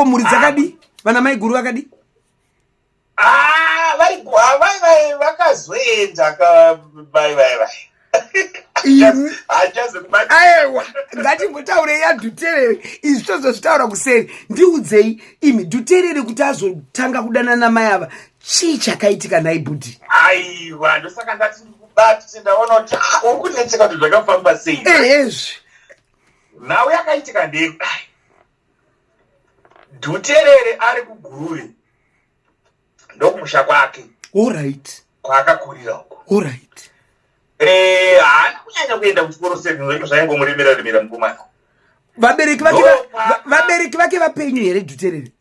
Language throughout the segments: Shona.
ko mhuri dzakadii vana maiguru vakadii ah, vakazoenda bai bai bai aewa ngatimbotaure yadhuterere izvi tozozvitaura kuseri ndiudzei imi dhuterere kuti azotanga kudanana mai ava chii chakaitika nhai bhudhi aiwa ndosaka ndati ndikubati ndaona kuti ah, uri kunetseka kuti zvakafamba sei ezvi nhau yakaitika ndekudai Dhuterere ari kuGuruve ndokumusha kwake. All right. Kwaakakurira uko. All right. Eh, haana kunyanya kuenda kuchikoro sezvo zvinhu zvaingomuremera remera mukomana. Vabereki vake vabereki vake vapenyu here Dhuterere?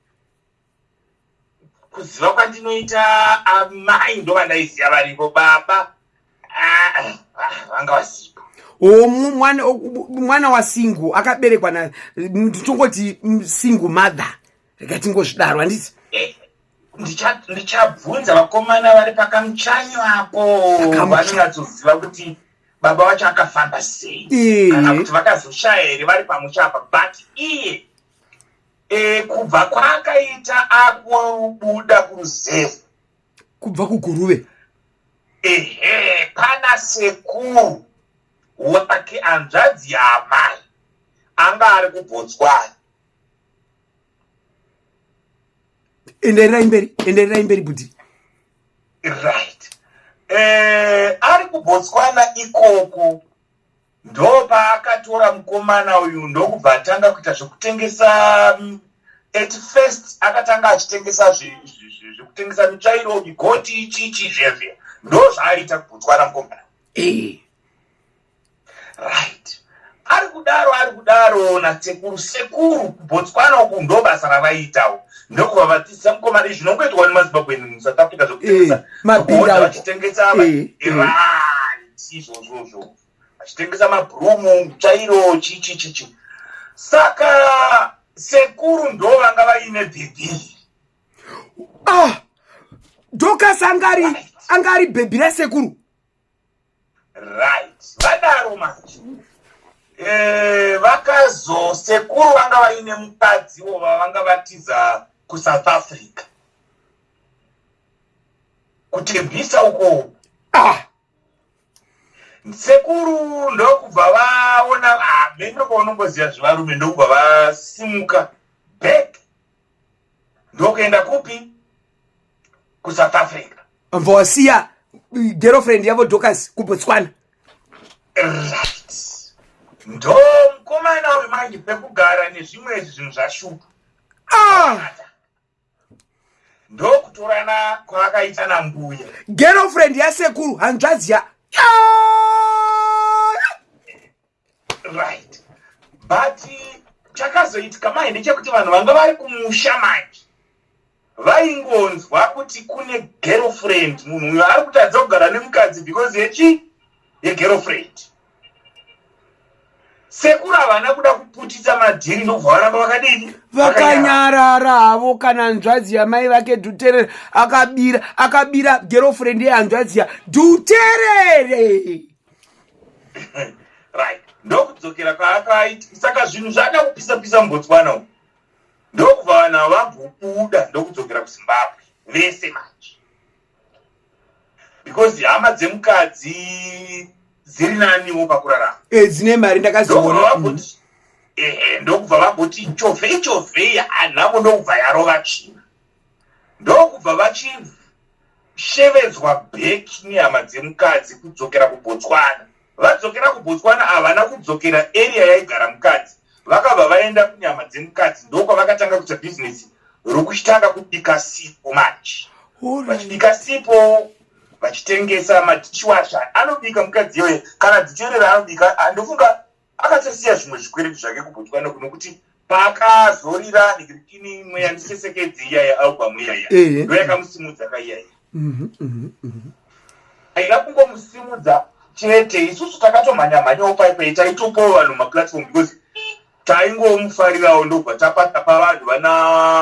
kuziva kwandinoita amai ah, ndovandaiziva varipo baba ah, ah, vanga vasipo o mwana wasingu akaberekwa na nditongoti singu mother rega tingozvidaro handiti eh, ndichabvunza vakomana vari pakamuchanyo apo vanonyatsoziva kuti baba vacho akafamba sei eh. kana kuti vakazoshaya here vari pamusha apa but iye e, kubva kwaakaita akubuda kuruzevha kubva kuguruve ehe pana sekuru wake hanzvadzi yaamai anga ari kubotswana endererai mberi endererai mberi budi right eh, ari kubotswana ikoko Ndopaakatora mukomana uyu ndokubva atanga kuita zvekutengesa mm, at first akatanga achitengesa zvekutengesa mitsvairo migoti chichi zvevye ndo zvaaiita kubotswana mukomana eh. right ari kudaro ari kudaro nasekuru sekuru kubotswana uku ndo basa ravaiitawo ndokuva vadzidza mukomana izvi zvinongoitwa nemazimbabweni musouth africa zvekutengesa eh, mabhira vachitengesa eh, irai izvozvozvo achitengesa mabhurumu chairo chichichichi saka sekuru ndo vanga vaine bhebhi ah dokas angari angari bhebhi rasekuru right vadaro manje eh, vakazo sekuru vanga vaine mukadzi wo vavanga vatiza kusouth africa kutebwisa uko ah. sekuru ndokubva vaona hameno ah, kwaunongoziva zvevarume ndokubva vasimuka back ndokuenda kupi kusouth africa vabva wasiya girlfriend yavo docas kubotswana right ndo mukomana wemanje pekugara nezvimwe izvi zvinhu zvashupa ah. ndokutorana kwaakaita nambuya girlfriend yasekuru hanzvadzi ya right but chakazoitika mai ndechekuti vanhu vanga vari kumusha manje vaingonzwa kuti kune girlfriend munhu uyo ari kutadza kugara nemukadzi because yechi yegirlfriend sekuru havana kuda kuputitsa madhiri ndobva varamba vakadini vakanyarara havo kana nzvadzi yamai vake dhuterere akabira akabira girlfriend yehanzvadzi ya dhuterere right ndokudzokera kwaakaiti saka zvinhu zvaada kupisa pisa mubotswana umu ndokubva vanhu vavambobuda ndokudzokera kuzimbabwe vese manje because hama dzemukadzi dziri naniwo pakurarama eh, dzine mari ndakaziona mm. ehe ndokubva vagoti chove chove anhamo ndokubva yarova tsvina ndokubva vachishevedzwa beki nehama dzemukadzi kudzokera kubotswana Vadzokera kuBotswana havana kudzokera area yaigara mukadzi vakabva vaenda kunyama dzemukadzi ndokwavakatanga kuita bhizinesi rokuchitanga kubika sipo manje vachibika sipo vachitengesa madishiwasha anobika mukadzi iyoye kana dichere raanobika andofunga akatosiya zvimwe zvikwereti zvake kubotswana kunokuti paakazorira ndikutini imwe yandisesekedzi iya yealbum iyaya eh. ndo yakamusimudza ka iyaya mhm, mhm, mhm. aida kungomusimudza chete isusu takatomhanya mhanyawo paipei taitopawo vanhu maplatform because taingomufarirawo ndobva tapatapa vanhu vana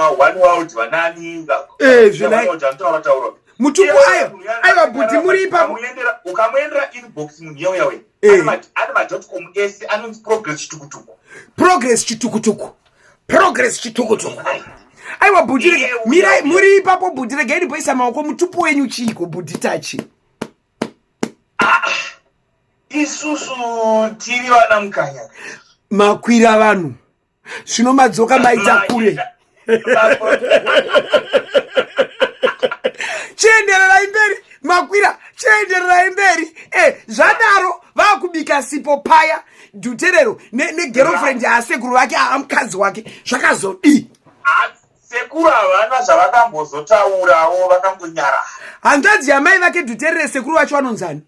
one world vanani eh, zvinotaura taura mutuku ayo aiwa bhudhi muri ipapo ukamuendera inbox munhu yauya wena eh. ane madotcom ese anonzi progress chitukutuku progress chitukutuku progress chitukutuku aiwa bhudhi rege mirai muri ipapo bhudhi rege inipoisa maoko mutupo wenyu chiiko bhudhi tachi ah, isusu tiri vana mukanya makwira vanhu Zvino madzoka maita kure. Chiendererai mberi makwira chiendererai mberi eh, zvadaro vakubika sipo paya duterero negerofriend ne yaasekuru vake aamukadzi wake zvakazodii sekuru havana zvavakambozotaurawo vakangonyara hanzvadzi yamai vake duterere sekuru vacho vanonzani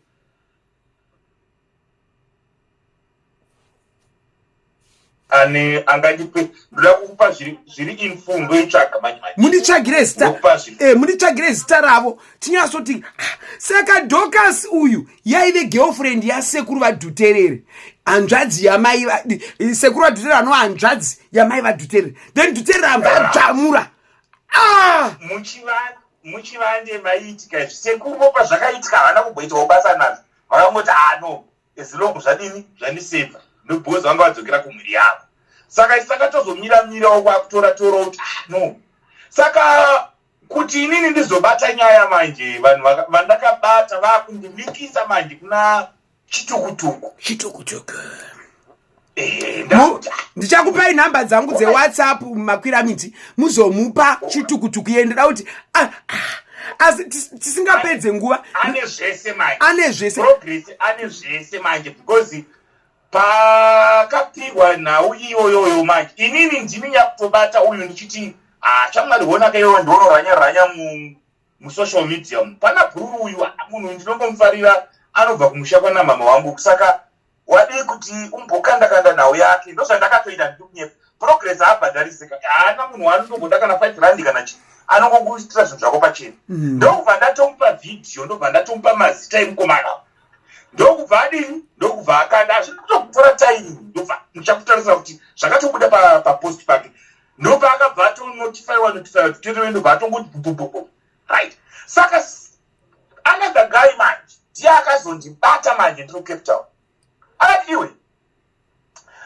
ane angandipe ndoda kukupa zviri infundo itsvaga manje manje munditsvagire zita eh munditsvagire zita ravo tinyasoti ah, saka docas uyu yaive girlfriend yasekuru vadhuterere hanzvadzi yamai eh, sekuru vadhuterere anova hanzvadzi yamai vadhuterere then dhuterere amba adzvamura ah! muchivande maiitika izvi sekuru vopa zvakaitika havana kumboitawo basa nazvo vakangoti ah no as long zvadini zvandiseva ndobecoz vanga vadzokera kumhuri yavo saka isi takatozomira mirawo kwakutora torawo kuti ah no saka kuti inini ndizobata nyaya manje vanhu vandakabata vakundimikisa manje kuna chitukutuku chitukutuku ndichakupai nhamba dzangu dzewhatsapp makwira miti muzomupa chitukutuku iye ndoda kuti ah, ah, asi tisingapedze nguva ane zvese manje ane zvese progress ane zvese manje because pakapihwa nhau iyoyoyo manje inini ndini nyakutobata uyu ndichiti ah, chamwari honaka iyoyo ndionorhanya rhanya musocial media mu pana bhururu uyu munhu ndinongomufarira anobva kumusha kwanamama wangu saka wadii kuti umbokandakanda nhau yake ndozvandakatoita ndikunyepa progress haabhadharisika haana munhu waanonongoda kana five randi kana chii anongokuitira zvinhu zvako pachena mm. ndokubva ndatomupa vhidhiyo ndokubva ndatomupa mazita emukomana ndokubva adini ndokubva akanda hazvina kutokutora taimi ndobva ndichakutarisira kuti zvakatobuda papost pake ndobva akabva atonotifaiwa notifaiwa titotoendobva atongoti bhubububu right saka another guy manje ndiye akazondibata manje ndiri mucape town akati iwe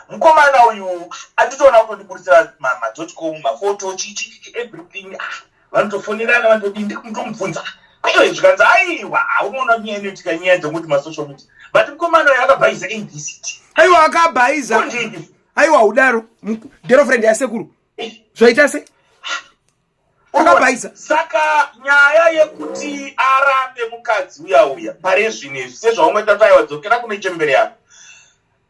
mukomana uyu anditoona kutondiburitsira madotcom mafoto chichichi everything ah, vanotofonerana vanotodii ndirikumtomubvunza aiwa zvikanzi aiwa aunoona nyaya inoitika nyaya dzokuti masocial media but mukomana uyu akabhaiza abct aiwa akabhaiza aiwa udaro girlfriend yasekuru zvaita se Akabhaisa. Saka nyaya yekuti arambe mukadzi uya uya pare zvino izvi sezvaungoita taiwa dzokera kune chembere yako.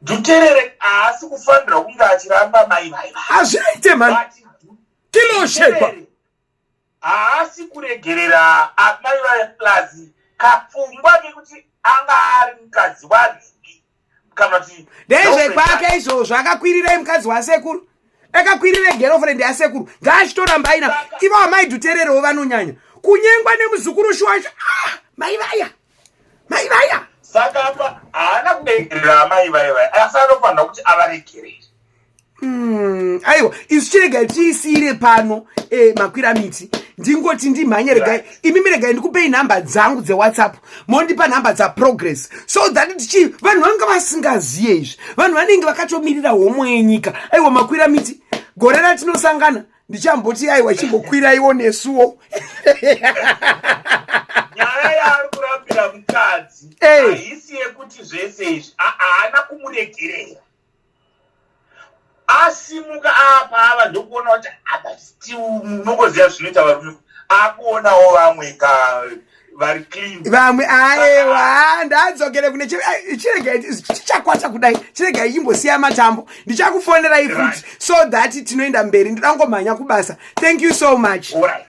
Duterere haasi kufanira kunge achiramba mai vai. Hazviite mhani. Kinoshekwa. Haasi kuregerera amai vai plus kapfungwa kekuti anga ari mukadzi wani. ndezvekwake izvozvo akakwirirai mukadzi wasekuru akakwirira girlfriend yasekuru ngaachitorambai ina ivo amai dhutererewo vanonyanya kunyengwa nemuzukuru shuwasha ah, mai vaya mai vaya saka apa haana kudengerera amai vaya vaya asi anofanira kuti avaregerere Mm, aiwa isu chiregai tiisiire pano eh, makwira miti ndingoti ndimhanye regai imi miregai ndikupei nhamba dzangu dzewhatsapp mondipa nhamba dzaprogress so that tichii vanhu vanga vasingaziye izvi vanhu vanenge vakatomirira homo yenyika aiwa makwira miti gore ratinosangana ndichamboti aiwa chimbokwiraiwo nesuwo nyaya yaari kurambira mukadzi eh. haisi yekuti zvese izvi haana kumuregerera asimuka apa ava ndokuona kuti apa still munongoziva zvinoita varume akuonawo vamwe ka vari clean vamwe aewa ndadzokere kune chirega chichakwata kudai chirega ichimbosiya matambo ndichakufonerai futi so that tinoenda mberi ndidangomhanya kubasa thank you so much All right.